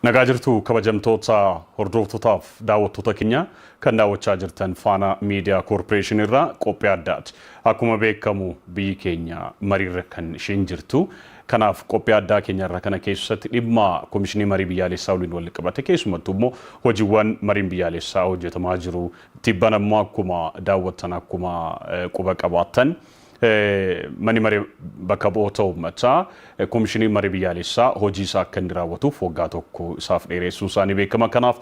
Nagaa jirtu kabajamtoota hordooftootaaf daawwattoota keenya kan daawwachaa jirtan faana miidiyaa koorporeeshinii irraa qophii addaati. Akkuma beekamu biyyi keenya mariirra kan isheen jirtu. Kanaaf qophii addaa keenya irraa kana keessatti dhimma komishinii marii biyyaalessaa waliin wal qabate keessumattuu immoo hojiiwwan mariin biyyaalessaa hojjetamaa jiru Tibbana immoo akkuma daawwattan akkuma quba qabaattan Manni Maree Bakka Bu'oota Uummataa Komishiniin Marii Biyyaalessaa hojii isaa akka inni raawwatuuf waggaa tokko isaaf dheereessuun isaa ni beekama. Kanaaf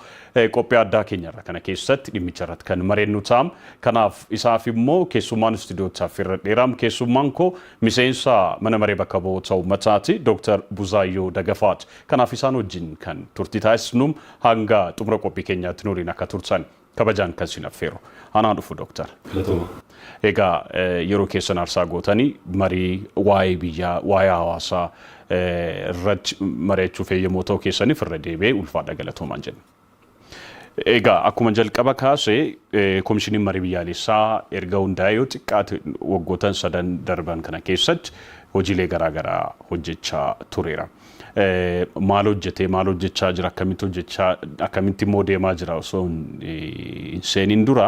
qophii addaa keenya irra kana keessatti dhimmicha irratti kan mareennu ta'a. Kanaaf isaaf immoo keessummaan istuudiyootti affeerra dheeraam keessummaan koo miseensa Mana Maree Bakka Bu'oota Uummataati Dooktar Buzaayyoo Dagafaati. Kanaaf isaan wajjin kan turtii taasisnu Hanga xumura qophii keenyaatti nu waliin akka turtan kabajaan kan isin affeeru. Anaa dhufu Doktar. Galatooma. Egaa yeroo keessan aarsaa gootanii marii waa'ee biyyaa, waa'ee hawaasaa irratti mari'achuuf eeyyamoo ta'uu keessaniif irra deebi'ee ulfaadha galatoomaan jenna. Egaa akkuma jalqaba kaase komishiniin marii biyyaalessaa erga hundaa'ee yoo xiqqaate waggootan sadan darban kana keessatti hojiilee garaagaraa hojjechaa tureera. maal hojjetee maal hojjechaa jira akkamitti hojjechaa akkamitti immoo deemaa jira osoo hin seeniin dura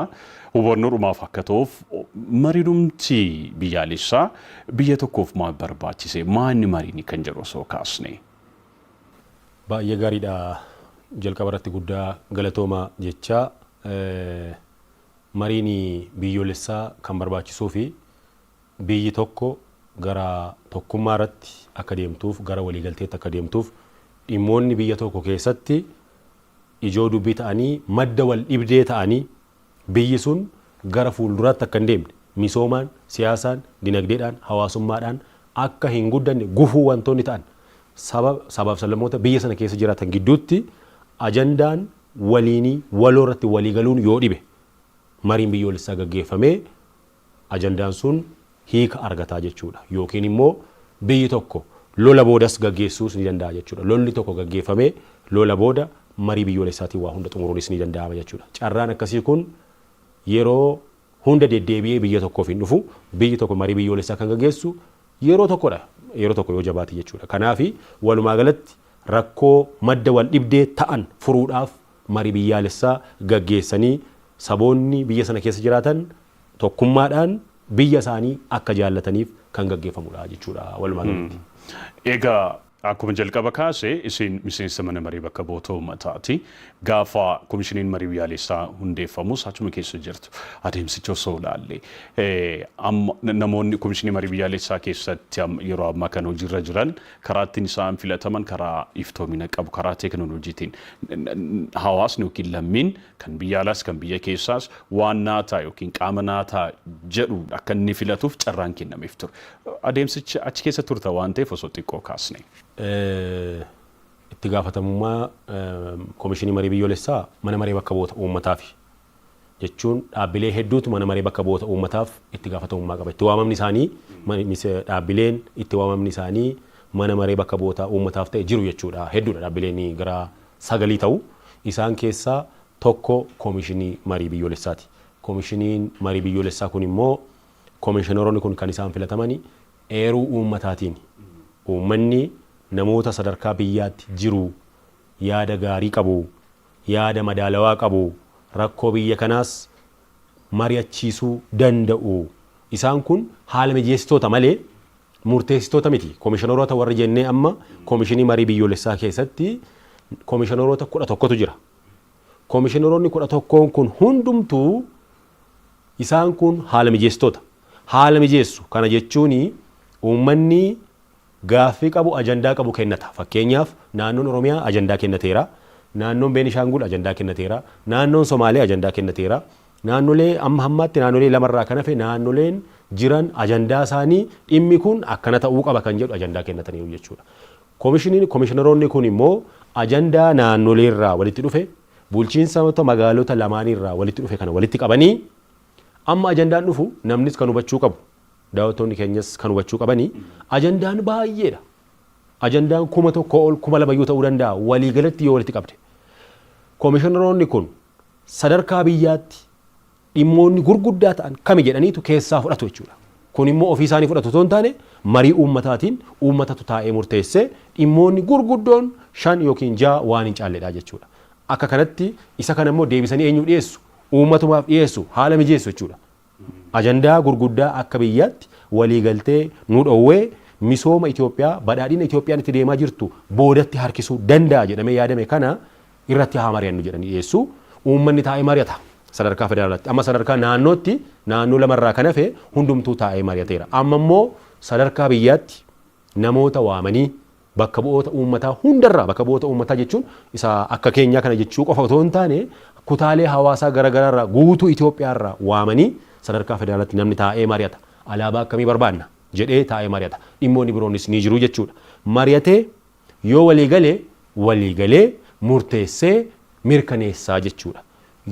hubannoodhumaaf akka ta'uuf marinumti biyyaalessaa biyya tokkoof maal barbaachise maanni marini kan jedhu osoo kaasne. Baay'ee gaariidha jalqaba irratti guddaa galatooma jechaa mariin biyyoolessaa kan barbaachisuu fi Biyyi tokko gara tokkummaa irratti akka deemtuuf, gara waliigalteetti akka deemtuuf dhimmoonni biyya tokko keessatti ijoo dubbii ta'anii madda wal dhibdee ta'anii biyyi sun gara fuulduraatti akka hin deemne, misoomaan, siyaasaan, dinagdeedhaan, hawaasummaadhaan akka hin guddanne gufuu wantoonni ta'an saba, sabaa fi sablammoota biyya sana keessa jiraatan gidduutti ajandaan waliinii waloo irratti walii galuun yoo dhibe mariin biyyoolessaa gaggeeffamee ajandaan sun hiika argata jechuu dha. Yookiin immoo biyyi tokko lola boodas gaggeessuus ni danda'a jechuu dha. Lolli tokko gaggeeffamee lola booda marii biyyoolessaatiin waa hunda xumuruunis ni danda'ama jechuu dha. Carraan akkasii kun yeroo hunda deddeebi'ee biyya tokkoof hin dhufu. Biyyi tokko marii biyyoolessaa kan gaggeessu yeroo tokko dha. Yeroo tokko yoo jabaate jechuu dha. Kanaafi walumaa galatti rakkoo madda wal dhibdee ta'an furuudhaaf marii biyyaalessaa gaggeessanii saboonni biyya sana keessa jiraatan tokkummaadhaan biyya isaanii akka jaallataniif kan gaggeeffamudha jechuudha walumaa galatti. Egaa akkuma jalqaba kaase isin miseensa mana maree bakka bu'oota uummataati. Gaafa komishiniin marii biyyaalessaa hundeeffamus achuma keessa jirtu. Adeemsicha osoo ilaalle namoonni komishinii marii biyyaalessaa keessatti yeroo ammaa kan hojiirra jiran Karaa ittiin isaan filataman karaa iftoomina qabu, karaa teeknooloojiitiin hawaasni yookiin lammiin kan biyya alaas kan biyya keessaas waan naa ta'a yookiin qaama naa ta'a jedhu akka inni filatuuf carraan kennameef ture. Adeemsicha achi keessa turta waan ta'eef osoo xiqqoo kaasnee. Itti gaafatamummaa Komishinii Marii Biyyoolessaa Mana Maree Bakka Bu'oota Uummataafi. jechuun dhaabbilee hedduutu Mana Maree Bakka Bu'oota Uummataaf itti gaafatamummaa qaba. Itti waamamni isaanii dhaabbileen itti waamamni isaanii Mana Maree Bakka Bu'oota Uummataaf ta'e jiru jechuudha. Hedduudha dhaabbileen gara sagalii ta'u. Isaan keessaa tokko Komishinii Marii Biyyoolessaati. Komishiniin Marii Biyyoolessaa kun immoo komishineroonni kun kan isaan filatamani eeruu uummataatiini. Uummanni namoota sadarkaa biyyaatti jiru yaada gaarii qabu yaada madaalawaa qabu rakkoo biyya kanaas mari'achiisuu danda'u. Isaan kun haala mijeessitoota malee murteessitoota miti. Komishinaroota warri jennee amma Komishinii Marii Biyyoolessaa keessatti komishinaroota 11tu jira. Komishinaroonni 11n kun hundumtuu isaan kun haala mijeessitoota. Haala mijeessu. Kana jechuun uummanni Gaaffii qabu, ajandaa qabu kennata. Fakkeenyaaf, Naannoon Oromiyaa ajandaa kennateera, Naannoon Beenishaangul ajandaa kennateera, Naannoon Somaalee ajandaa kennateera. Naannolee amma hammaatti naannolee lama irraa kan hafe naannoleen jiran ajandaa isaanii dhimmi kun akkana ta'uu qaba kan jedhu ajandaa kennataniiru jechuudha. Komishiniin, komishinaroonni kun immoo ajandaa naannolee irraa walitti dhufe, bulchiinsaota magaalota lamaanii irraa walitti dhufe kana walitti qabanii amma ajandaan dhufu namnis kan hubachuu qabu, Daawwattoonni keenyas kan hubachuu qabani ajandaan baay'eedha. Ajandaan kuma tokkoo ol kuma lama iyyuu ta'uu danda'a waliigalatti yoo walitti qabde. Komishinaroonni kun sadarkaa biyyaatti dhimmoonni gurguddaa ta'an kami jedhaniitu keessaa fudhatu jechuudha. Kun immoo ofii isaanii fudhatu otoo hin taane marii uummataatiin uummatatu taa'ee murteessee dhimmoonni gurguddoon shan yookiin ja'a waan hin caalledha jechuudha. Akka kanatti isa kana immoo deebisanii eenyuuf dhiyeessu? Uummatumaaf dhiyeessu, haala mijeessu jechuudha. Ajandaa gurguddaa akka biyyaatti waliigaltee nu dhoowwe misooma Itoophiyaa, badhaadhina Itoophiyaan itti deemaa jirtu boodatti harkisuu danda'a jedhamee yaadame kana irratti haa mari'annu jedhanii dhiyeessu. Uummanni taa'ee mari'ata sadarkaa federaalaatti. Amma sadarkaa naannootti naannoo lama irraa kan hafe hundumtuu taa'ee mari'ateera. Amma immoo sadarkaa biyyaatti namoota waamanii Bakka bu'oota uummataa hundarraa, bakka bu'oota uummataa jechuun isa akka keenyaa kana jechuu qofa otoo hin taane kutaalee hawaasaa gara garaarraa guutuu Itoophiyaarraa waamanii sadarkaa federaalaatti namni taa'ee mari'ata. Alaabaa akkamii barbaadna? jedhee taa'ee mari'ata. Dhimmoonni biroonis ni jiru jechuudha. Mari'atee yoo walii gale walii galee murteessee mirkaneessaa jechuudha.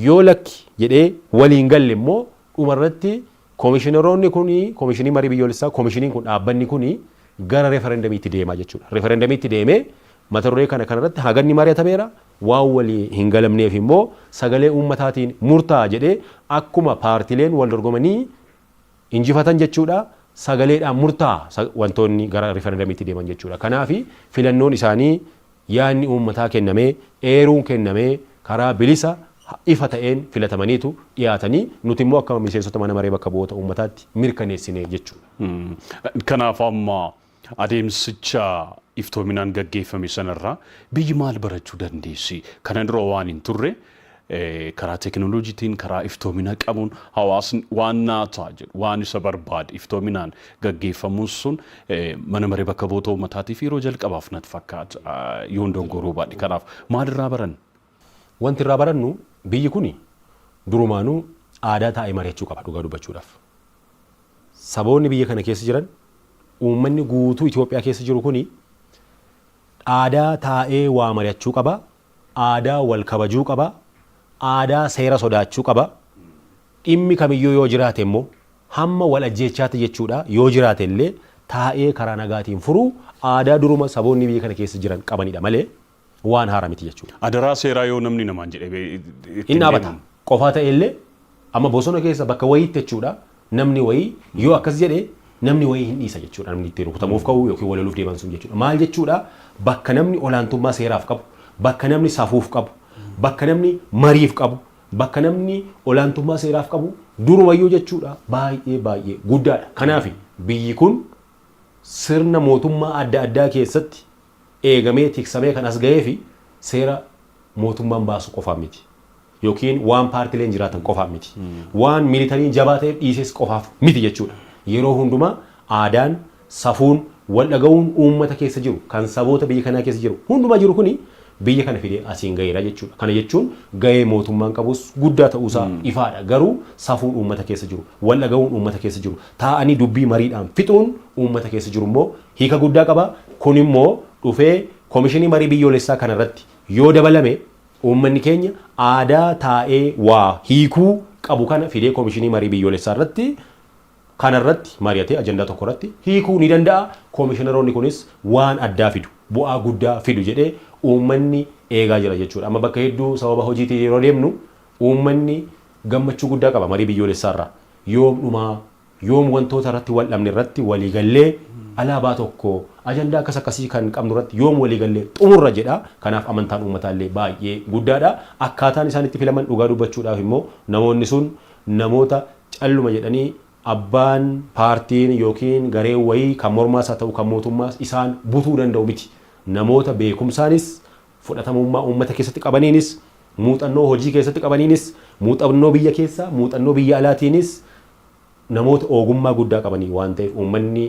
Yoo lakki jedhee walii hin galle immoo dhumarratti Komishinaroonni kun, Komishinii Marii Biyyoolessaa, komishiniin kun, dhaabbanni kun gara referendamiitti deema jechuudha. Referendamiitti deemee mata duree kana kanarratti haganni mari'atameera, waan walii hin galamneef immoo sagalee uummataatiin murtaa'a jedhee akkuma paartileen wal dorgomanii injifatan jechuudha sagaleedhaan murtaa'a wantoonni gara referendamiitti deeman jechuudha. Kanaaf filannoon isaanii Yaadni uummataa kennamee, eeruun kennamee karaa bilisa, ifa ta'een filatamaniitu dhiyaatanii nuti immoo akka miseensota Mana Maree Bakka Bu'oota Uummataatti mirkaneessine jechuudha. Kanaaf amma adeemsicha iftoominaan gaggeeffame sanarraa biyyi maal barachuu dandeessi? Kana dura waan hin turre karaa teekinooloojiitiin, karaa iftoomina qabuun hawaasni waan naa ta'a jedhu, waan isa barbaade iftoominaan gaggeeffamuun sun mana maree bakka bu'oota uummataatiif yeroo jalqabaaf natti fakkaata yoon dogongoruu baadhe. Kanaaf maalirraa baranna? Wanti irraa barannu biyyi kuni durumaanuu aadaa taa'ee mari'achuu qaba dhugaa dubbachuudhaaf. Saboonni biyya kana keessa jiran uummanni guutuu Itoophiyaa keessa jiru kuni aadaa taa'ee waa mari'achuu qaba. Aadaa wal kabajuu qaba. Aadaa seera sodaachuu qaba. Dhimmi kamiyyuu yoo jiraate immoo hamma wal ajjeechaatti jechuudha yoo jiraate illee taa'ee karaa nagaatiin furuu aadaa duruma saboonni biyya kana keessa jiran qabanidha malee waan haara miti jechuudha. Adaraa seeraa yoo namni namaan jedhe itti Hin hin dhaabata. deemamu. Qofaa ta'ee illee Amma bosona keessa bakka wayiitti jechuudha namni wayii yoo akkas jedhe namni wayii hin dhiisa jechuudha namni itti rukutamuuf ka'u yookiin waloluuf deeman sun jechuudha maal jechuudha bakka namni olaantummaa seeraaf qabu bakka namni safuuf qabu bakka namni mariif qabu bakka namni olaantummaa seeraaf qabu durumayyuu jechuudha baay'ee baay'ee guddaadha kanaafi biyyi kun sirna mootummaa adda addaa keessatti eegamee tiksamee kan as gaheefi seera mootummaan baasu qofaan miti. Yookiin waan paartileen jiraatan qofaan miti. Waan militariin jabaa ta'eef dhiises qofaaf miti jechuudha. Yeroo hundumaa aadaan, safuun, waldhaga'uun uummata keessa jiru, kan saboota biyya kanaa keessa jiru hundumaa jiru kuni biyya kana fidee asiin gaheera jechuudha. Kana jechuun gahee mootummaan qabus guddaa ta'uusaa ifaadha. Garuu safuun uummata keessa jiru, waldhaga'uun uummata keessa jiru, taa'anii dubbii mariidhaan fixuun uummata keessa jirummoo hiika guddaa qaba. Kun immoo dhufee Komishinii Marii Biyyoolessaa kana irratti yoo dabalame uummanni keenya aadaa taa'ee waa hiikuu qabu kana fidee Komishinii Marii Biyyoolessaa irratti kana irratti mari'atee ajandaa tokko irratti hiikuu ni danda'a. Komishinaroonni kunis waan addaa fidu, bu'aa guddaa fidu jedhee uummanni eegaa jira jechuudha. Amma bakka hedduu sababa hojiitiin yeroo deemnu uummanni gammachuu guddaa qaba marii biyyoolessaa irraa. Yoom dhumaa? Yoom wantoota irratti wal dhabne irratti walii gallee alaabaa tokko, ajandaa akkas akkasii kan qabnu irratti yoom walii gallee xumurra jedha. Kanaaf amantaan uummataa illee baay'ee guddaadha. Akkaataan isaan itti filaman dhugaa dubbachuudhaaf immoo namoonni sun namoota calluma jedhanii abbaan, paartiin yookiin gareen wayii kan mormaas haa ta'u kan mootummaas isaan butuu danda'u miti. Namoota beekumsaanis, fudhatamummaa uummata keessatti qabaniinis, muuxannoo hojii keessatti qabaniinis, muuxannoo biyya keessaa, muuxannoo biyya alaatiinis namoota oogummaa guddaa qabanii waan ta'eef uummanni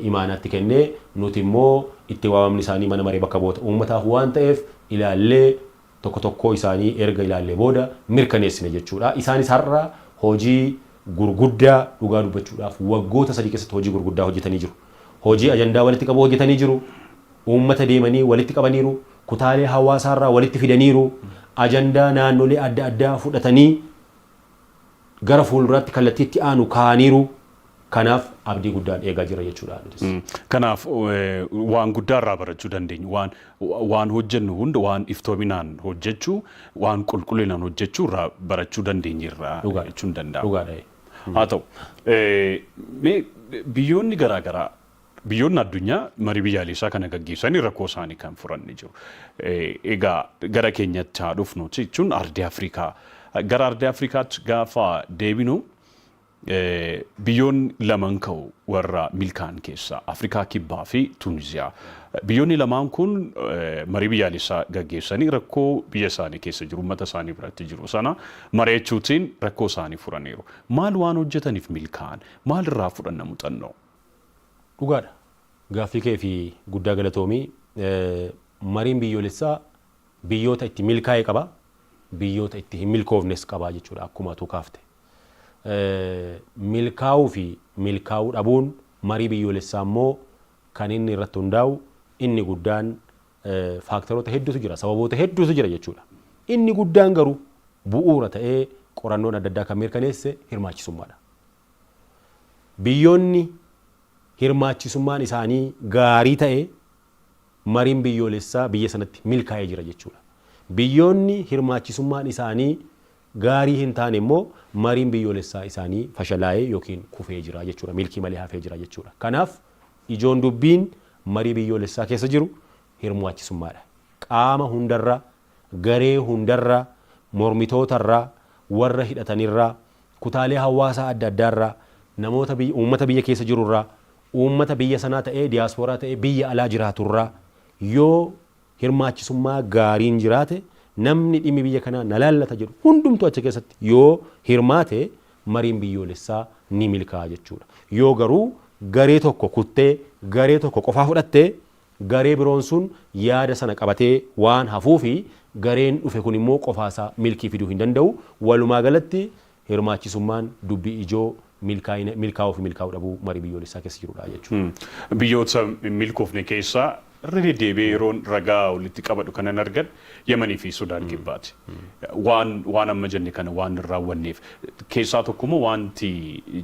imaanaa itti kennee nuti immoo itti waamamni isaanii mana maree bakka bu'oota uummataaf waan ta'eef ilaallee tokko tokkoo isaanii erga ilaallee booda mirkaneessine jechuudha. Isaanis har'a hojii gurguddaa dhugaa dubbachuudhaaf waggoota sadii keessatti hojii gurguddaa hojjetanii jiru. Hojii ajandaa walitti qabuu hojjetanii jiru, uummata deemanii walitti qabaniiru, kutaalee hawaasaarraa walitti fidaniiru, ajandaa naannolee adda addaa fudhatanii gara fuulduraatti kallattii itti aanu kaa'aniiru. Kanaaf abdii guddaan eegaa jirra jechuudha nutis. Kanaaf waan guddaa irraa barachuu dandeenyu waan waan hojjennu hunda waan iftoominaan hojjechuu waan qulqullinaan hojjechuu irraa barachuu dandeenyerra Dhugaadha. jechuun danda'ama. Dhugaadha. Haa ta'u mee biyyoonni garaa garaa Biyyoonni addunyaa marii biyyaaleessaa kana gaggeessanii rakkoo isaanii kan furan ni jiru. Egaa gara keenyatti haa dhufnu jechuun ardii Afrikaa. Gara ardii Afrikaatti gaafa deebinu biyyoonni laman ka'u warra milkaa'an keessaa Afrikaa Kibbaa fi Tuuniziyaa. Biyyoonni lamaan kun marii biyyaaleessaa gaggeessanii rakkoo biyya isaanii keessa jiru uummata isaanii biratti jiru sana mari'achuutiin rakkoo isaanii furaniiru. Maal waan hojjetaniif milkaa'an? Maal irraa fudhanna muuxannoo? Dhugaadha. Gaaffii keefi guddaa galatoomi. Mariin biyyoolessaa biyyoota itti milkaa'e qaba, biyyoota itti hin milkoofnes qaba jechuudha akkuma atuu kaafte. Milkaa'uu fi milkaa'uu dhabuun marii biyyoolessaa immoo kan inni irratti hundaa'u inni guddaan faaktaroota hedduutu jira, sababoota hedduutu jira jechuudha. Inni guddaan garuu bu'uura ta'ee qorannoon adda addaa kan mirkaneesse hirmaachisummaadha. Biyyoonni hirmaachisummaan isaanii gaarii ta'e mariin biyyoolessaa biyya sanatti milkaa'ee jira jechuudha. Biyyoonni hirmaachisummaan isaanii gaarii hin taane immoo mariin biyyoolessaa isaanii fashalaa'ee yookiin kufee jira jechuudha. Milkii malee hafee jira jechuudha. Kanaaf ijoon dubbiin marii biyyoolessaa keessa jiru hirmaachisummaadha. Qaama hundarra garee hundarraa, mormitootarraa, warra hidhatanirraa, kutaalee hawaasaa adda addaarraa, namoota biyya, uummata biyya keessa jirurraa, uummata biyya sanaa ta'ee, diyaaspooraa ta'ee biyya alaa jiraaturraa yoo hirmaachisummaa gaariin jiraate, namni dhimmi biyya kanaa na laallata jedhu hundumtuu achi keessatti yoo hirmaate mariin biyyoolessaa ni milkaa'a jechuudha. Yoo garuu garee tokko kuttee, garee tokko qofaa fudhatte Garee biroon sun yaada sana qabatee waan hafuufi gareen dhufe kun immoo qofaasaa milkii fiduu hin danda'u. Walumaagalatti, hirmaachisummaan dubbii ijoo milkaa'ina, milkaa'uufi milkaa'uu dhabuu marii biyyoolessaa keessa jirudha jechuudha. Biyyoota hin milkoofne keessaa irra deddeebi'ee yeroon ragaa walitti qabadhu kanan argan Yamaniifi Sudaan Kibbaati. Waan, waan amma jenne kana waan hin raawwanneef. Keessaa tokkommoo waanti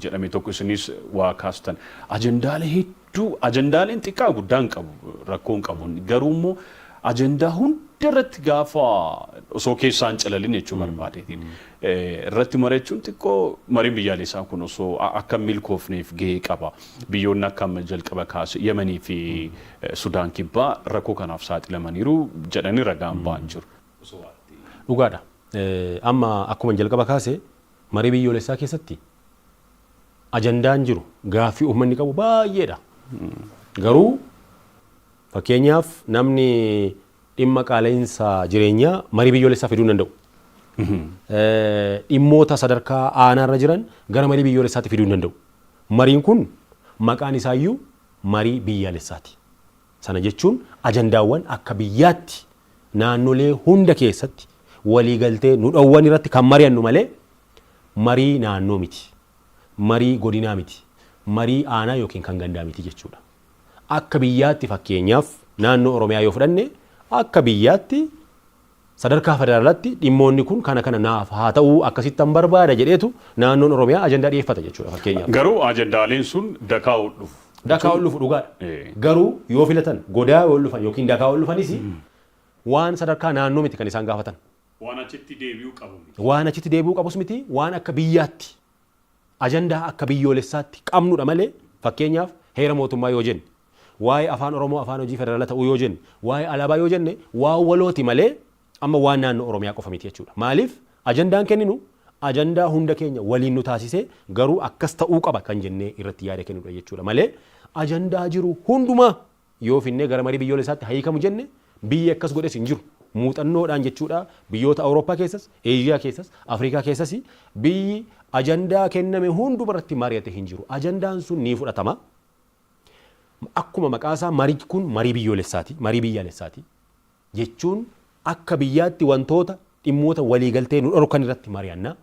jedhame tokko isinis waa kaastan ajandaalee hedduu du ajandaaleen xiqqaa guddaa hin qabu rakkoo hin qabu garuu immoo ajandaa hunda irratti gaafa osoo keessaa hin calalin jechuu barbaadeetiin irratti mari'achuun xiqqoo mariin biyyaalessaa kun osoo a- akka hin milkoofneef gahee qaba biyyoonni akka amma jalqaba kaase yamanii fi eh, sudaan kibbaa rakkoo kanaaf saaxilamaniiru jedhanii ragaan ba'an jiru. Dhugaadha. Eh, Amma akkuma jalqaba kaase marii biyyoolessaa keessatti ajandaan jiru, gaaffii uummanni qabu baay'eedha. Garuu fakkeenyaaf namni dhimma qaala'insa jireenyaa marii biyyoolessaa fiduu hin danda'u. Dhimmoota sadarkaa aanaarra jiran gara marii biyyoolessaatti fiduu hin danda'u. Mariin kun maqaan isaayyuu marii biyyaalessaati. Sana jechuun ajandaawwan akka biyyaatti naannolee hunda keessatti waliigaltee nu dhowwan irratti kan mari'annu malee Marii naannoo miti. Marii godinaa miti. Marii aanaa ykn kan gandaa miti jechuudha. Akka biyyaatti fakkeenyaaf naannoo Oromiyaa yoo fudhanne akka biyyaatti sadarkaa federaalaatti dhimmoonni kun kana kana naaf haa ta'uu akkasittan barbaada jedheetu naannoon Oromiyaa ajandaa dhiyeeffata jechuudha fakkeenyaaf. Garuu ajandaaleen sun dakaa ol dhufu. Dakaa ol dhufu dhugaadha. Garuu yoo filatan godaa yoo ol dhufan ykn dakaa ol dhufanis waan sadarkaa naannoo miti kan isaan gaafatan. Waan achitti deebi'uu qabu miti. Waan achitti deebi'uu qabus miti, waan akka biyyaatti, ajandaa akka biyyoolessaatti qabnudha malee, fakkeenyaaf heera mootummaa yoo jenne, waa'ee Afaan Oromoo afaan hojii federaala ta'uu yoo jenne, waa'ee alaabaa yoo jenne waan walooti malee amma waan naannoo Oromiyaa qofa miti jechuudha. Maaliif ajandaan kenninu ajandaa hunda keenya waliin nu taasisee garuu akkas ta'uu qaba kan jennee irratti yaada kennudha jechuudha malee ajandaa jiru hundumaa Yoo finnee gara marii biyyoolessaatti haa hiikamu jenne, biyyi akkas godhes hin jiru. Muuxannoodhaan jechuudha biyyoota Awurooppaa keessas, Eeshiyaa keessas, Afrikaa keessas biyyi ajandaa kenname hunduma irratti mari'ate hin jiru. Ajandaan sun ni fudhatama. Akkuma maqaa isaa marii kun marii biyyoolessaati, marii biyyaalessaati jechuun akka biyyaatti wantoota dhimmoota waliigaltee nu dhorkan irratti mari'anna.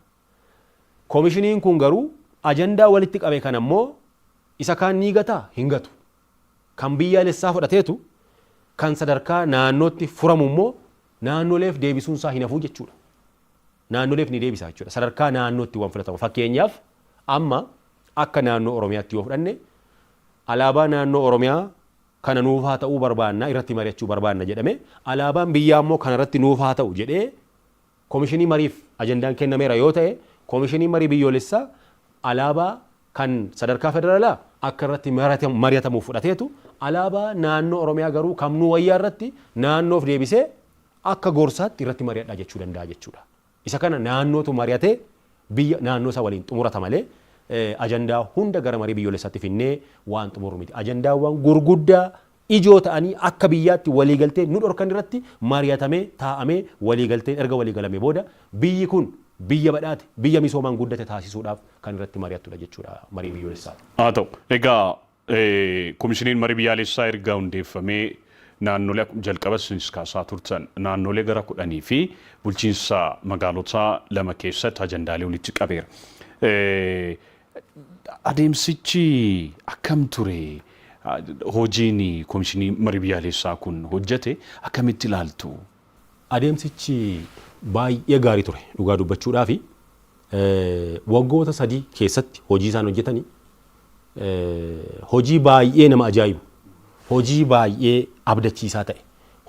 Komishiniin kun garuu ajandaa walitti qabe kana immoo isa kaan ni gataa? Hin gatu. kan biyyaalessaa fudhateetu kan sadarkaa naannootti furamu immoo naannoleef deebisuun isaa hin hafuu jechuudha. Naannoleef ni deebisa jechuudha. Sadarkaa naannootti waan filatamu. Fakkeenyaaf amma akka naannoo Oromiyaatti yoo fudhanne alaabaa naannoo Oromiyaa kana nuuf haa ta'uu barbaanna irratti mari'achuu barbaanna jedhame alaabaan biyyaa immoo kana irratti nuuf haa ta'u jedhee Komishinii mariif ajandaan kennameera yoo ta'e Komishiniin Marii Biyyoolessaa alaabaa kan sadarkaa federalaa akka irratti mari'atamuuf fudhateetu alaabaa naannoo Oromiyaa garuu kam nuu wayyaa irratti naannoof deebisee akka gorsaatti irratti mari'adhaa jechuu danda'a jechuudha. Isa kana naannootu mari'atee biyya naannoo isaa waliin xumurata malee ajandaa hunda gara marii biyyoolessaatti finnee waan xumurru miti. Ajandaawwan gurguddaa ijoo ta'anii akka biyyaatti waliigaltee nu dhorkan irratti mari'atamee taa'amee waliigalteen erga waliigalamee booda biyyi kun biyya badhaate, biyya misoomaan guddate taasisuudhaaf kan irratti mari'attudha jechuudha mariin biyyoolessaa. Haa ta'u. Egaa Komishiniin Marii Biyyaalessaa erga hundeeffamee naannolee akkuma jalqabas isinis kaasaa turtan naannolee gara kudhanii fi bulchiinsa magaalotaa lama keessatti ajandaalee walitti qabeera. Adeemsichi akkam ture? Hojiin Komishinii Marii Biyyaaleessaa kun hojjete akkamitti ilaaltu? Adeemsichi baay'ee gaarii ture dhugaa dubbachuudhaafi. Waggoota sadii keessatti hojii isaan hojjetani hojii baay'ee nama ajaa'ibu, hojii baay'ee abdachiisaa ta'e,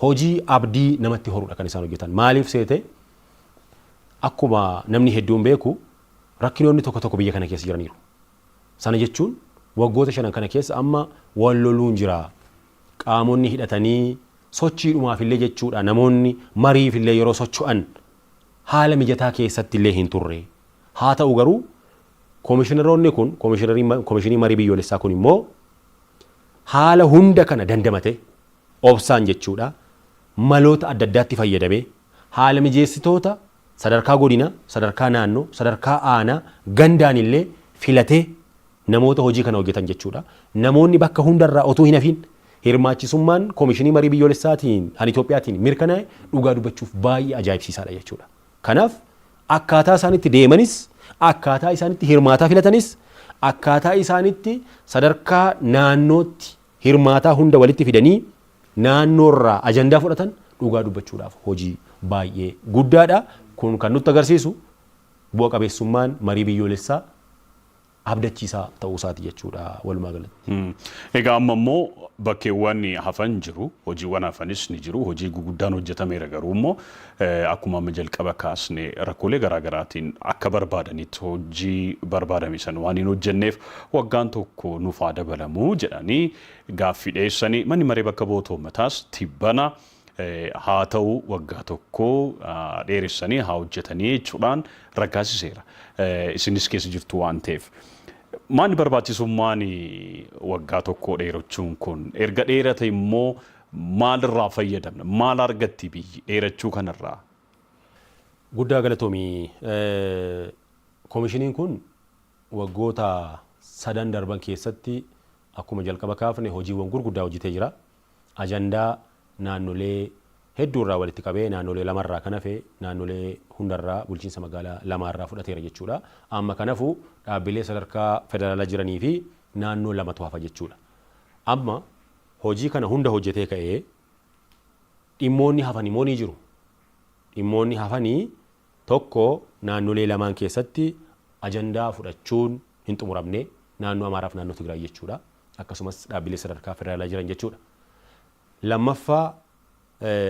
hojii abdii namatti horudha kan isaan hojjetan. Maaliif seete akkuma namni hedduun beeku Rakkinoonni tokko tokko biyya kana keessa jiraniiru. Sana jechuun waggoota shanan kana keessa amma wal loluun jira. Qaamonni hidhatanii sochiidhumaaf illee jechuudha namoonni mariif illee yeroo socho'an haala mijataa keessatti illee hin turre. Haa ta'u garuu komishinaroonni kun komishinii marii biyyoolessaa kun immoo haala hunda kana dandamate obsaan jechuudha maloota adda addaatti fayyadamee haala mijeessitoota Sadarkaa Godina, Sadarkaa Naannoo, Sadarkaa Aanaa, Gandaan illee filatee namoota hojii kana hojjetan jechuu dha. Namoonni bakka hunda irraa otuu hin hafiin hirmaachisummaan Komishinii Marii Biyyoolessaatiin an Itoophiyaatiin mirkanaa'e dhugaa dubbachuuf baay'ee ajaa'ibsiisaa dha jechuu dha. Kanaaf akkaataa isaan itti deemanis, akkaataa isaan itti hirmaataa filatanis, akkaataa isaan itti sadarkaa naannootti hirmaataa hunda walitti fidanii naannoo irraa ajandaa fudhatan dhugaa dubbachuudhaaf hojii baay'ee guddaadha. Kun kan nutti agarsiisu bu'a qabeessummaan marii biyyoolessaa abdachiisaa ta'uu isaati jechuudha walumaa galatti. Egaa amma immoo bakkeewwan hafan jiru. Hojiiwwan hafanis ni jiru. Hojii guguddaan hojjetameera garuu immoo akkuma amma jalqaba kaasne rakkoolee garaa garaatiin akka barbaadanitti hojii barbaadame sana waan hin hojjenneef waggaan tokko nuuf haa dabalamu jedhanii Gaaffii dhiyeessanii manni maree bakka bu'oota uummataas tibbana haa ta'u waggaa tokko dheeressanii haa hojjetanii jechuudhaan raggaasiseera. Isinis keessa jirtu waan ta'eef. Maanni barbaachisummaan waggaa tokkoo dheerachuun kun erga dheerate immoo maalirraa fayyadamna? Maal argatti biyyi dheerachuu kanarraa? Guddaa galatoomi. Komishiniin kun Waggoota sadan darban keessatti akkuma jalqaba kaafne hojiiwwan gurguddaa hojjetee jira. Ajandaa naannolee hedduu irraa walitti qabee naannolee lama irraa kan hafe naannolee hunda irraa bulchiinsa magaalaa lamaa irraa fudhateera jechuudha. Amma kan hafu dhaabbilee sadarkaa federaalaa jiranii fi naannoo lamatu hafa jechuudha. Amma hojii kana hunda hojjetee ka'ee dhimmoonni hafan immoo ni jiru. Dhimmoonni hafani 1, Naannolee lamaan keessatti ajandaa fudhachuun hin xumuramne, Naannoo Amaaraa fi Naannoo Tigraay jechuudha. Akkasumas dhaabbilee sadarkaa federaalaa jiran jechuudha. 2ffaa,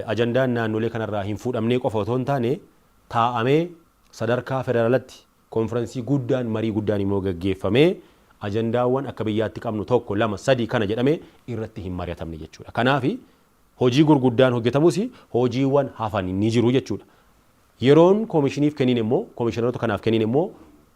Ajandaan naannolee kanarraa hin fuudhamnee qofa otoo hin taane, taa'amee sadarkaa federaalatti konfiransii guddaan, marii guddaan immoo gaggeeffamee ajandaawwan akka biyyaatti qabnu 1, 2, 3 kana jedhamee irratti hin mari'atamne jechuudha. Kanaafi Hojii gurguddaan hojjetamus hojiiwwan hafan ni jiru jechuudha. Yeroon komishiniif kennine immoo komishinaroota kanaaf kennine immoo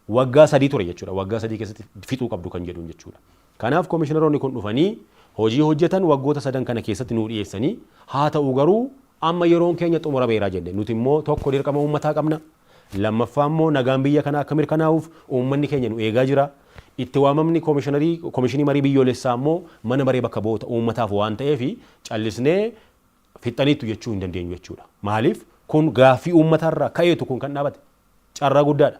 waggaa sadii ture jechuudha. Waggaa sadii keessatti fixuu qabdu kan jedhuun jechuudha. Kanaaf komishinaroonni kun dhufanii hojii hojjetan waggoota sadan kana keessatti nuu dhiyeessanii haa ta'u garuu amma yeroon keenya xumurameera jenne. Nuti immoo tokko dirqama uummataa qabna. Lammaffaa immoo nagaan biyya kanaa akka mirkanaa'uuf uummanni keenya nu eegaa jira. Itti waamamni Komishinarii Komishinii Marii Biyyoolessaa immoo Mana Maree Bakka Bu'oota Uummataaf waan ta'eef callisnee fixxaniittu jechuu hin dandeenyu jechuudha. Maaliif kun gaaffii uummataa irraa ka'eetu kun kan dhaabate. Carraa guddaadha.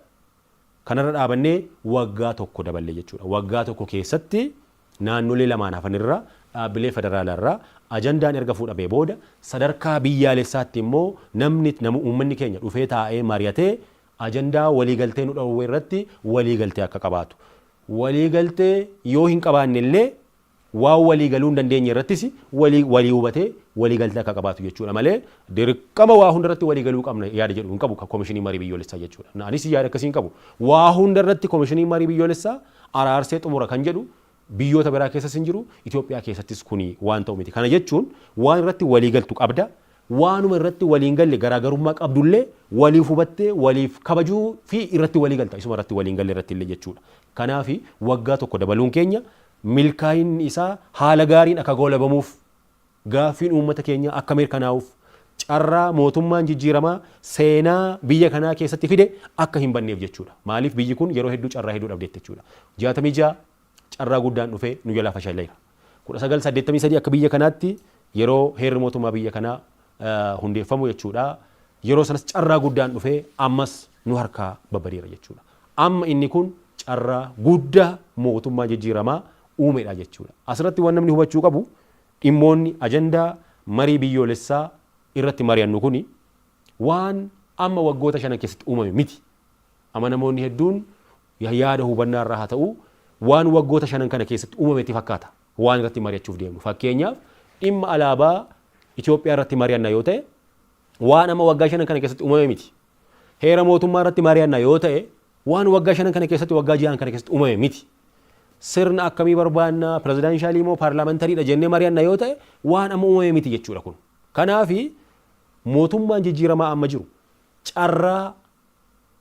Kanarra dhaabannee waggaa tokko daballe jechuudha. Waggaa tokko keessatti Naannolee lamaan hafan irraa dhaabbilee federaalaa irraa ajandaan erga fuudhamee booda sadarkaa biyyaalessaatti immoo namni, uummanni keenya dhufee taa'ee mari'atee ajandaa waliigaltee nu dhoowwe irratti waliigaltee akka qabaatu, waliigaltee yoo hin qabaanne illee waan waliigaluu hin dandeenye irrattis walii walii hubatee waliigaltee akka qabaatu jechuu dha malee dirqama waa hunda irratti waliigaluu qabna yaada jedhu hin qabu Komishiniin Marii Biyyoolessaa jechuu dha. Anis yaada akkasii hin qabu. Waa hunda irratti Komishiniin Marii Biyyoolessaa araarsee xumura kan jedhu biyyoota biraa keessas hin jiru, Itoophiyaa keessattis kuni waan ta'u miti. Kana jechuun waan irratti walii galtu qabda, waanuma irratti walii hin galle garaagarummaa qabdullee waliif hubattee waliif kabajuu fi irratti walii galta isuma irratti walii hin galle irratti illee jechuudha. Kanaafi waggaa tokko dabaluun keenya milkaa'inni isaa haala gaariin akka goolabamuuf Gaaffiin uummata keenyaa akka mirkanaa'uuf carraa mootummaan jijjiiramaa seenaa biyya kanaa keessatti fide akka hin banneef jechuudha. Maaliif biyyi kun yeroo hedduu carraa hedduu dhabdeetti jechuudha. 66 carraa guddaan dhufee nu jalaa fashaleera. 1983 akka biyya kanaatti yeroo heerri mootummaa biyya kanaa hundeeffamu jechuudha. Yeroo sanas carraa guddaan dhufee ammas nu harkaa babbadeera jechuudha. Amma inni kun carraa guddaa mootummaa jijjiiramaa uumedha jechuudha. Asirratti waan namni hubachuu qabu Dhimmoonni ajandaa marii biyyoolessaa irratti mari'annu kun waan amma waggoota shanan keessatti uumame miti. Amanamoonni hedduun yaada hubannaa irraa haa ta'uu waan waggoota shanan kana keessatti uumame itti fakkaata waan irratti mari'achuuf deemnu. Fakkeenyaaf dhimma alaabaa Itoophiyaa irratti mari'anna yoo ta'e waan amma waggaa shanan kana keessatti uumame miti. Heera mootummaa irratti mari'anna yoo ta'e waan waggaa shanan kana keessatti waggaa ji'aan kana keessatti uumame miti. Sirna akkamii barbaanna, pirezidaanshaalii moo paarlaamantariidha jennee mari'anna yoo ta'e waan amma uumame miti jechuudha kun. Kanaaf mootummaan jijjiiramaa amma jiru carraa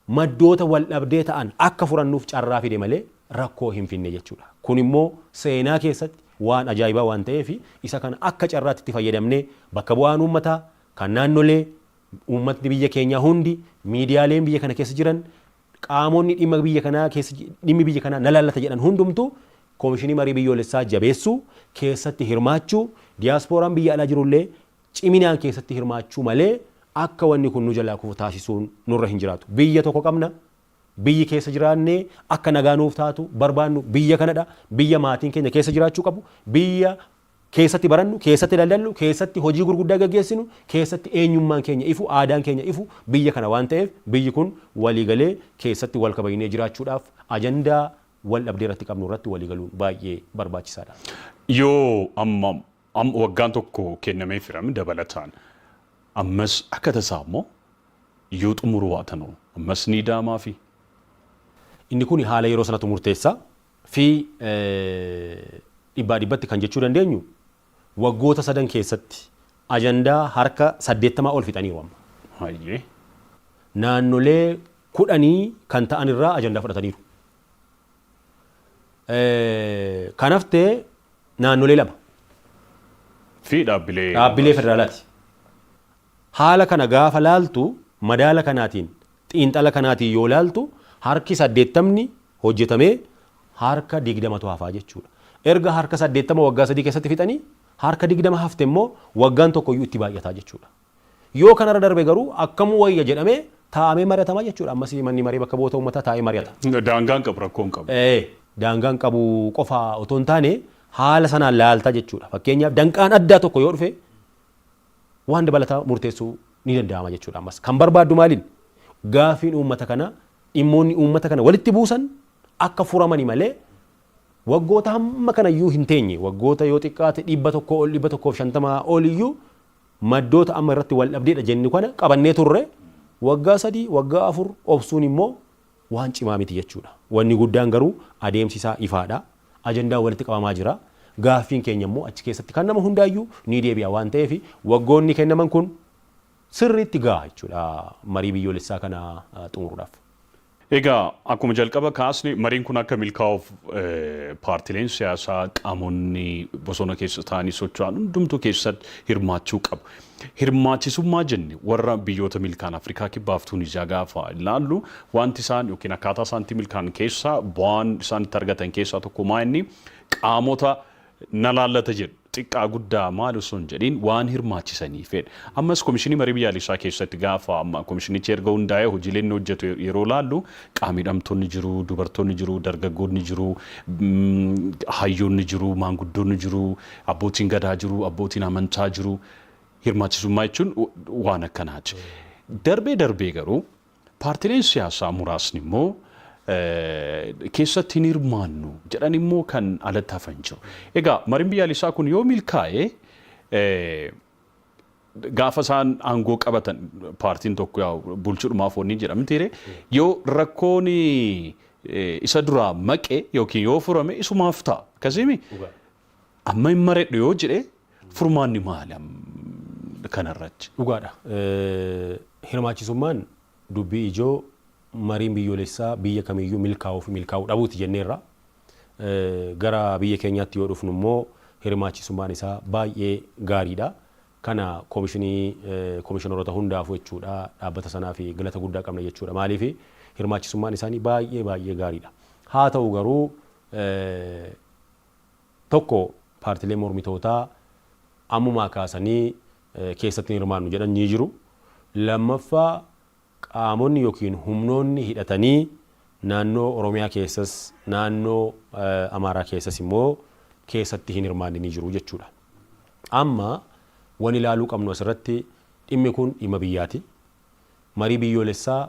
maddoota waldhabdee ta'an akka furannuuf carraa fide malee rakkoo hin finne jechuudha. Kun immoo seenaa keessatti waan ajaa'ibaa waan ta'eef isa kana akka carraatti itti fayyadamnee bakka bu'aan uummataa, kan naannolee, Uummatni biyya keenyaa hundi, miidiyaaleen biyya kana keessa jiran, qaamonni dhimma biyya kanaa keessa dhimmi biyya kanaa na laallata jedhan hundumtu Komishinii Marii Biyyoolessaa jabeessuu, keessatti hirmaachuu, diyaaspooraan biyya alaa jirullee ciminaan keessatti hirmaachuu malee akka wanni kun nu jalaa kufu taasisuun nurra hin jiraatu. Biyya tokko qabna. Biyyi keessa jiraannee akka nagaa nuuf taatu barbaannu biyya kanadha. Biyya maatiin keenya keessa jiraachuu qabu. Biyya keessatti barannu, keessatti daldallu, keessatti hojii gurguddaa gaggeessinu, keessatti eenyummaan keenya ifu, aadaan keenya ifu biyya kana waan ta'eef biyyi kun walii galee keessatti wal kabajnee jiraachuudhaaf ajandaa wal dhabdee irratti qabnu irratti walii galuun baay'ee barbaachisaa dha. Yoo amma am, waggaan tokko kennameefira dabalataan ammas akka tasaa immoo yoo xumuruu baatan hoo ammas ni ida'amaafi? Inni kun haala yeroo sanatu murteessa. fi dhibbaa dhibbatti kan jechuu dandeenyu waggoota sadan keessatti ajandaa harka 80 ol fixaniiru amma. Hayyee. Naannolee kudhanii kan ta'an irraa ajandaa fudhataniiru. Kan hafte naannolee lama. Fi dhaabbilee. Dhaabbilee federaalaati. Haala kana gaafa laaltu madaala kanaatiin Xiinxala kanaatiin yoo ilaaltu harki saddeettamni hojjetamee harka digdamatu hafaa jechuudha. Erga harka saddeettama waggaa sadii keessatti fixanii harka digdama hafte immoo waggaan tokkoyyuu itti baay'ataa jechuudha. Yoo kanarra darbe garuu akkam wayya jedhamee taa'amee mari'atama jechuudha. Ammas manni maree bakka bu'oota uummataa taa'ee mari'ata. Daangaa hin qabu rakkoo hin qabu. Ee daangaa hin qabu qofa otoo hin taane haala sanaan laalta jechuudha. Fakkeenyaaf danqaan addaa tokko yoo dhufe waan dabalataa murteessuu ni danda'ama jechuudha ammas. Kan barbaaddu maaliin? Gaafiin uummata kanaa dhimmoonni uummata kana walitti buusan akka furamani malee waggoota hamma kana iyyuu hin teenye waggoota yoo xiqqaate dhibba tokkoo ol dhibba tokkoof shantama ol iyyuu maddoota amma irratti wal dhabdeedha jennu kana qabannee turre waggaa sadii waggaa afur obsuun immoo waan cimaa miti jechuudha. Wanni guddaan garuu adeemsi isaa ifaadha. Ajandaan walitti qabamaa jira. Gaaffiin keenya immoo achi keessatti kan nama hundaayyuu ni deebi'a waan ta'eef waggoonni kennaman kun sirriitti ga'a jechuudha marii biyyoolessaa kana xumuruudhaaf. Egaa akkuma jalqaba kaasne mariin kun akka milkaa'uuf paartileen siyaasaa qaamonni bosona keessa taa'anii socho'an hundumtuu keessatti hirmaachuu qabu. Hirmaachisummaa jenne warra biyyoota milkaan Afrikaa Kibbaaf Tuuniziyaa gaafa ilaallu waanti isaan yookiin akkaataa isaan itti milkaan keessaa bu'aan isaan itti argatan keessaa tokko maa inni qaamota na laallata jedhu xiqqaa guddaa maal osoo hin jedhiin waan hirmaachisaniifedha. Ammas komishinii marii biyyaalessaa keessatti gaafa amma komishinichi erga hundaa'ee hojiilee inni hojjetu yeroo ilaallu qaamidhamtoonni jiru, dubartoonni jiru, dargaggoonni jiru, hayyoonni jiru, maanguddoonni jiru, Abbootiin Gadaa jiru, abbootiin amantaa jiru, hirmaachisummaa jechuun waan akkanaati. Darbee darbee garuu paartileen siyaasaa muraasni immoo keessatti hin hirmaannu jedhan immoo kan alatti hafan jiru. Egaa mariin biyyaalessaa kun yoo milkaa'e gaafa isaan aangoo qabatan paartiin tokko yaa bulchudhumaaf wanni jedhamtiire yoo rakkoon isa duraa maqe yookiin yoo furame isumaaf ta'a. Akkasiimi Amma hin maredhu yoo jedhe furmaanni maali am- kanarratti? Dhugaadha. Eh, Hirmaachisummaan dubbii ijoo mariin biyyoolessaa biyya kamiyyuu milkaa'uu fi milkaa'uu dhabuuti jenneerra. Eh, Gara biyya keenyaatti yoo dhufnu immoo hirmaachisummaan isaa baay'ee gaariidha. Kana koomishinii eh, koomishineroota hundaafuu jechuudha dhaabbata sanaa fi galata guddaa qabna jechuudha. Maaliif hirmaachisummaan isaanii baay'ee baay'ee gaariidha. Haa ta'u garuu eh, tokko paartileen mormitootaa ammumaa kaasanii keessatti hin hirmaannu jedhan ni jiru. Lammaffaa qaamonni yookiin humnoonni hidhatanii naannoo Oromiyaa keessas naannoo Amaaraa keessas immoo keessatti hin hirmaanne ni jiru jechuudha. Amma wan ilaaluu qabnu asirratti dhimmi kun dhimma biyyaati. Marii biyyoolessaa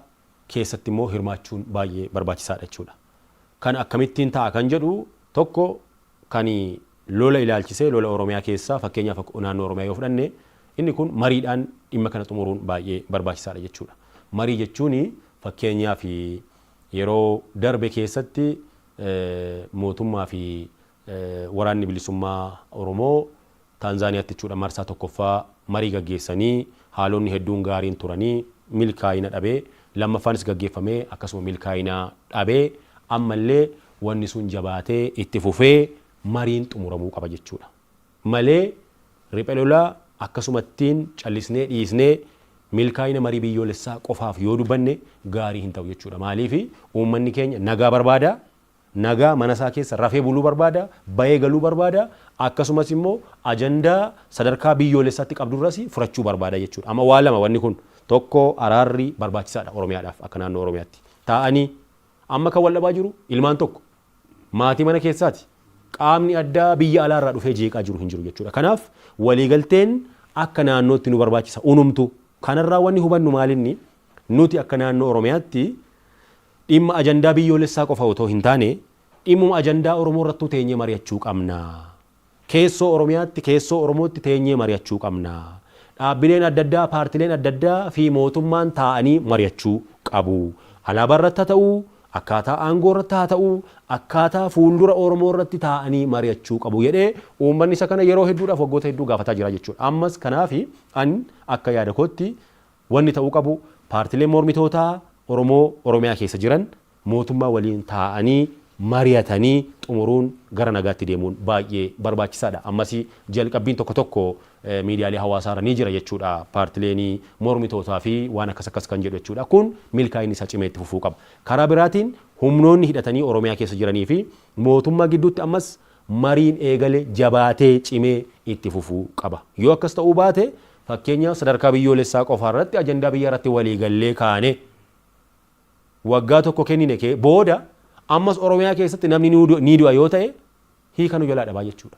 keessatti immoo hirmaachuun baay'ee barbaachisaadha jechuudha. Kan akkamittiin ta'a kan jedhu tokko kan lola ilaalchisee lola Oromiyaa keessaa fakkeenyaaf akka naannoo Oromiyaa yoo fudhanne inni kun mariidhaan dhimma kana xumuruun baay'ee barbaachisaadha jechuudha. Marii jechuun fakkeenyaaf yeroo darbe keessatti mootummaa fi Waraanni Bilisummaa Oromoo Taanzaaniyaatti jechuudha marsaa 1ffaa marii gaggeessanii haalonni hedduun gaariin turanii milkaa'ina dhabe. Lammaffaanis gaggeeffamee akkasuma milkaa'ina dhabe. Ammallee wanni sun jabaatee itti fufee mariin xumuramuu qaba jechuudha. Malee riphe lolaa akkasumattiin callisnee dhiisnee milkaa'ina marii biyyoolessaa qofaaf yoo dubbanne gaarii hin ta'u jechuudha. Maaliif uummanni keenya nagaa barbaada. nagaa mana isaa keessa rafee buluu barbaada, ba'ee galuu barbaada, akkasumas immoo ajandaa sadarkaa biyyoolessaatti qabdu irras furachuu barbaada jechuudha. Amma waa lama wanni kun tokko araarri barbaachisaadha Oromiyaadhaaf akka naannoo Oromiyaatti. Taa'anii amma kan wal dhabaa jiru ilmaan tokko maatii mana keessaati. Qaamni addaa biyya alaa irraa dhufee jeeqaa jiru hin jiru jechuudha. Kanaaf waliigalteen akka naannootti nu barbaachisa unumtu. Kanarraa wanni hubannu maalinni nuti akka naannoo Oromiyaatti Dhimma ajandaa biyyoolessaa qofa otoo hin taane dhimmuma ajandaa Oromoo irrattuu teenyee mari'achuu qabna. Keessoo Oromiyaatti, keessoo Oromootti teenyee mari'achuu qabna. Dhaabbileen adda addaa, paartileen adda addaa fi mootummaan taa'anii mari'achuu qabu. Alaabaa irratti haa ta'u, akkaataa aangoo irratti haa ta'u, akkaataa fuuldura Oromoo irratti taa'anii mari'achuu qabu jedhee uummanni isa kana yeroo hedduudhaaf waggoota hedduu gaafataa jira jechuudha. Ammas kanaafi an akka yaada kootti Wanni ta'uu qabu paartileen mormitootaa Oromoo Oromiyaa keessa jiran mootummaa waliin taa'anii mari'atanii xumuruun gara nagaatti deemuun baay'ee barbaachisaadha. Ammasii jalqabbiin tokko tokko miidiyaalee hawaasaarra ni jira jechuudha paartileen mormitootaa fi waan akkas akkas kan jedhu jechuudha. Kun milkaa'inni isaa cimee itti fufuu qaba. Karaa biraatiin humnoonni hidhatanii Oromiyaa keessa jiranii fi mootummaa gidduutti ammas mariin eegale jabaatee cimee itti fufuu qaba. Yoo akkas ta'uu baate Fakkeenyaaf sadarkaa biyyoolessaa qofaa irratti ajandaa biyyaa irratti walii gallee kaanee waggaa tokko kennine kee booda ammas Oromiyaa keessatti namni ni du'a yoo ta'e hiika nu jalaa dhabaa jechuudha.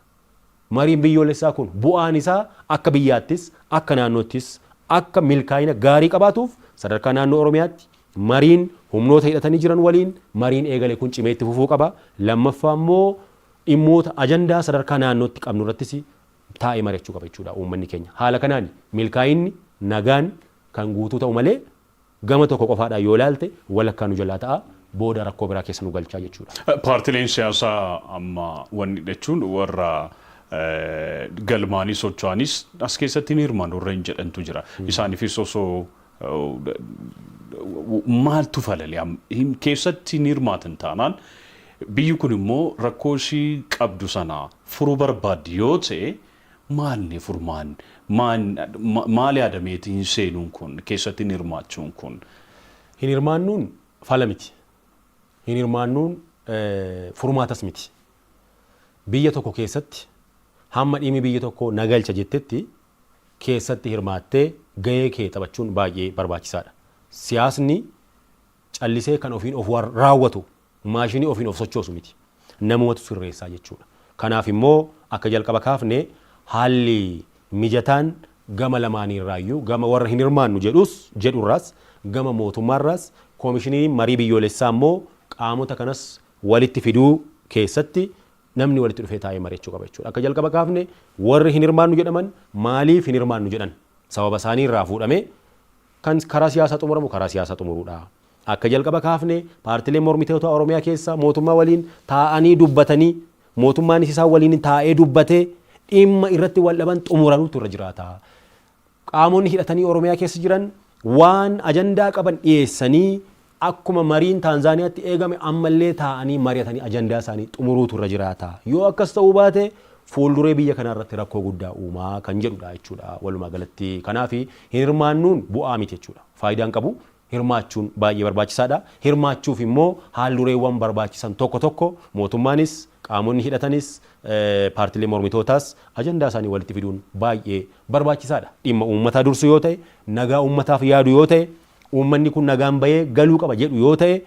Mariin biyyoolessaa kun bu'aan isaa akka biyyaattis akka naannoottis akka milkaa'ina gaarii qabaatuuf sadarkaa naannoo Oromiyaatti mariin humnoota hidhatanii jiran waliin mariin eegale kun cimee itti fufuu qaba. Lammaffaa immoo dhimmoota ajandaa sadarkaa naannootti qabnu irrattis taa'ee mari'achuu qaba jechuudha uummanni keenya. Haala kanaan milkaa'inni, nagaan kan guutuu ta'u malee gama tokko qofaadhaan yoo ilaalte walakkaa nu jalaa ta'a, booda rakkoo biraa keessa nu galcha jechuudha. Paartileen siyaasaa amma wanni jechuun warra galmaa'anii socho'anis as keessatti hin hirmaannu warreen jedhantu jira. Isaaniifis osoo maaltu falale keessatti hin hirmaatan taanaan biyyi kun immoo rakkoo ishii qabdu sana furu barbaaddi yoo ta'e maalni furmaan maal yaadameeti hin seenuun kun keessatti hin hirmaachuun kun? Hin hirmaannuun fala miti. Hin hirmaannuun furmaatas miti. Biyya tokko keessatti hamma dhimmi biyya tokkoo na galcha jettetti keessatti hirmaattee gahee kee taphachuun baay'ee barbaachisaadha. Siyaasni callisee kan ofiin of raawwatu Maashinii ofiin of sochoosu miti. Namumatu sirreessaa jechuudha. Kanaaf immoo akka jalqaba kaafne haalli mijataan gama lamaanii irraayyuu gama warra hin hirmaannu jedhus jedhu irraas gama mootummaa irraas Koomishiniin Marii Biyyoolessaa immoo qaamota kanas walitti fiduu keessatti namni walitti dhufee taa'ee mari'achuu qaba jechuudha. Akka jalqaba kaafne warri hin hirmaannu jedhaman maaliif hin hirmaannu jedhan sababa isaanii irraa fuudhamee kan karaa siyaasaa xumuramu karaa siyaasaa xumuruudha. Akka jalqaba kaafne paartileen mormitoota Oromiyaa keessa mootummaa waliin taa'anii dubbatanii mootummaanis isaan waliin taa'ee dubbatee dhimma irratti wal dhaban xumuranuutu irra jiraata. Qaamonni hidhatanii Oromiyaa keessa jiran waan ajandaa qaban dhiyeessanii akkuma mariin Taanzaaniyaatti eegame ammallee taa'anii mari'atanii ajandaa isaanii xumuruutu irra jiraata. Yoo akkas ta'uu baate fuulduree biyya kanaa irratti rakkoo guddaa uumaa kan jedhudha jechuudha walumaa galatti. Kanaaf hin hirmaannuun bu'aa miti jechuudha. Faayidaan qabu hirmaachuun baay'ee barbaachisaadha. Hirmaachuuf immoo haal-dureewwan barbaachisan tokko tokko mootummaanis, qaamonni hidhatanis, paartiileen mormitootaas ajandaa isaanii walitti fiduun baay'ee barbaachisaadha. Dhimma uummataa dursu yoo ta'e, nagaa uummataaf yaadu yoo ta'e, uummanni kun nagaan ba'ee galuu qaba jedhu yoo ta'e,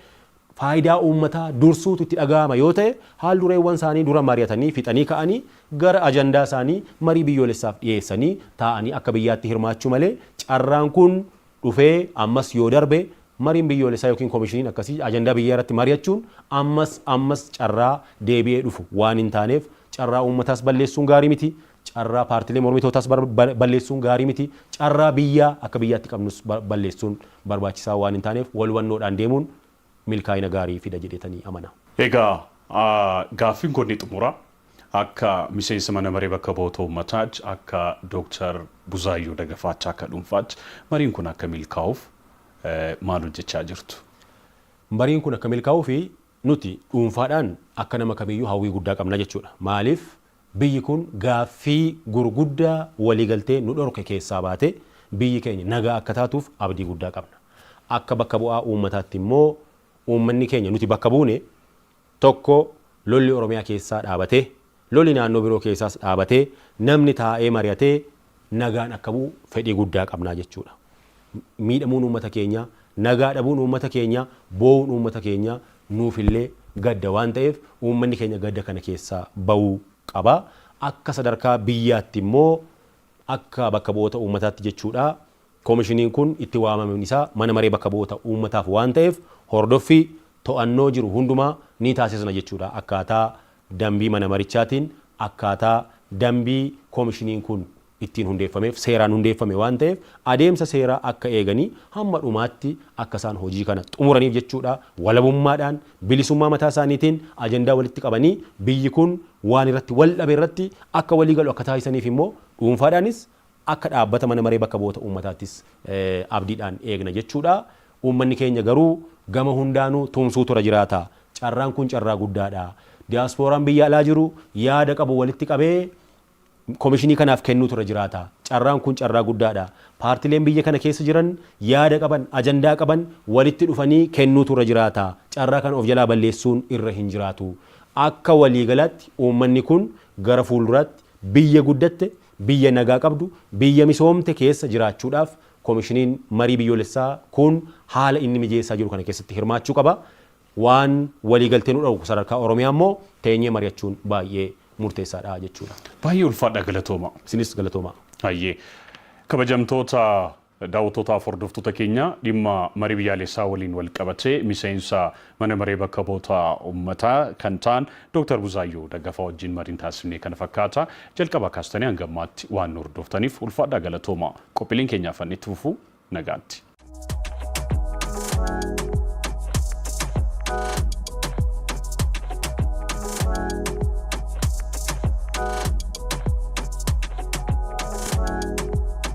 faayidaa uummataa dursuutu itti dhaga'ama yoo ta'e, haal-dureewwan isaanii dura mari'atanii fixanii ka'anii gara ajandaa isaanii marii biyyoolessaaf dhiyeessanii taa'anii akka biyyaatti hirmaachuu malee carraan kun dhufee ammas yoo darbe mariin biyyoolessaa ykn komishiniin akkasii ajandaa biyyaa irratti mari'achuun ammas ammas carraa deebi'ee dhufu waan hin taaneef carraa uummataas balleessuun gaarii miti, carraa paartilee mormitootaas balleessuun gaarii miti, carraa biyyaa akka biyyaatti qabnus balleessuun barbaachisaa waan hin taaneef wal hubannoodhaan deemuun milkaa'ina gaarii fida jedheetanii amana. Egaa gaaffiin koo inni xumuraa akka miseensa mana maree bakka bu'oota uummataatti akka Doktar Buzaayyoo Dagafaatti akka dhuunfaatti mariin kun akka milkaa'uuf maal hojjechaa jirtu? Mariin kun akka milkaa'uuf nuti dhuunfaadhaan akka nama kamiiyyuu hawwii guddaa qabna jechuudha. Maaliif Biyyi kun gaaffii gurguddaa waliigaltee nu dhorke keessaa baatee biyyi keenya nagaa akka taatuuf abdii guddaa qabna. Akka bakka bu'aa uummataatti immoo uummanni keenya nuti bakka buune tokko lolli Oromiyaa keessaa dhaabatee, loli naannoo biroo keessaas dhaabatee namni taa'ee mari'atee nagaan akka bu'u fedhii guddaa qabna jechuudha. Miidhamuun uummata keenyaa, nagaa dhabuun uummata keenyaa, boo'uun uummata keenyaa nuufillee gadda waan ta'eef uummanni keenya gadda kana keessaa ba'uu qaba. Akka sadarkaa biyyaatti immoo akka bakka bu'oota uummataatti jechuudha komishiniin kun itti waamamuun isaa mana maree bakka bu'oota uummataaf waan ta'eef hordoffii to'annoo jiru hundumaa ni taasisna jechuudha akkaataa Dambii Mana Marichaatiin akkaataa dambii Komishiniin kun ittiin hundeeffameef seeraan hundeeffame waan ta'eef adeemsa seeraa akka eeganii hamma dhumaatti akka isaan hojii kana xumuraniif jechuudha walabummaadhaan bilisummaa mataa isaaniitiin ajandaa walitti qabanii biyyi kun waan irratti wal dhabe irratti akka walii galu akka taasisaniif immoo dhuunfaadhaanis Akka dhaabbata Mana Maree Bakka Bu'oota Uummataattis abdiidhaan eegna jechuudha. Uummanni keenya garuu gama hundaanuu tumsuutu irra jiraata. Carraan kun carraa guddaadha. Diyaaspooraan biyya alaa jiru yaada qabu walitti qabee komishinii kanaaf kennuutu irra jiraata. Carraan kun carraa guddaadha. Paartileen biyya kana keessa jiran yaada qaban, ajandaa qaban walitti dhufanii kennuutu irra jiraata. Carraa kana of jalaa balleessuun irra hin jiraatu. Akka waliigalaatti uummanni kun gara fuulduraatti biyya guddatte, Biyya nagaa qabdu, biyya misoomte keessa jiraachuudhaaf Komishiniin Marii Biyyoolessaa kun haala inni mijeessaa jiru kana keessatti hirmaachuu qaba. Waan waliigaltee nu dhowwu sadarkaa Oromiyaa immoo teenyee mari'achuun baay'ee murteessaadha jechuudha. Baay'ee ulfaadha galatoomaa. Isinis galatoomaa. Hayyee. Kabajamtoota. Daawwattootaaf hordoftoota keenya dhimma marii biyyaalessaa waliin walqabatee miseensa mana maree bakka bu'oota ummataa kan ta'an Dooktar Buzaayyoo Daggafaa wajjin mariin taasifne kana fakkaata. Jalqabaa kaastanii hanga ammaatti waan nu hordoftaniif ulfaadhaa galatoomaa. Qophiileen keenya hafan itti fufu. Nagaatti.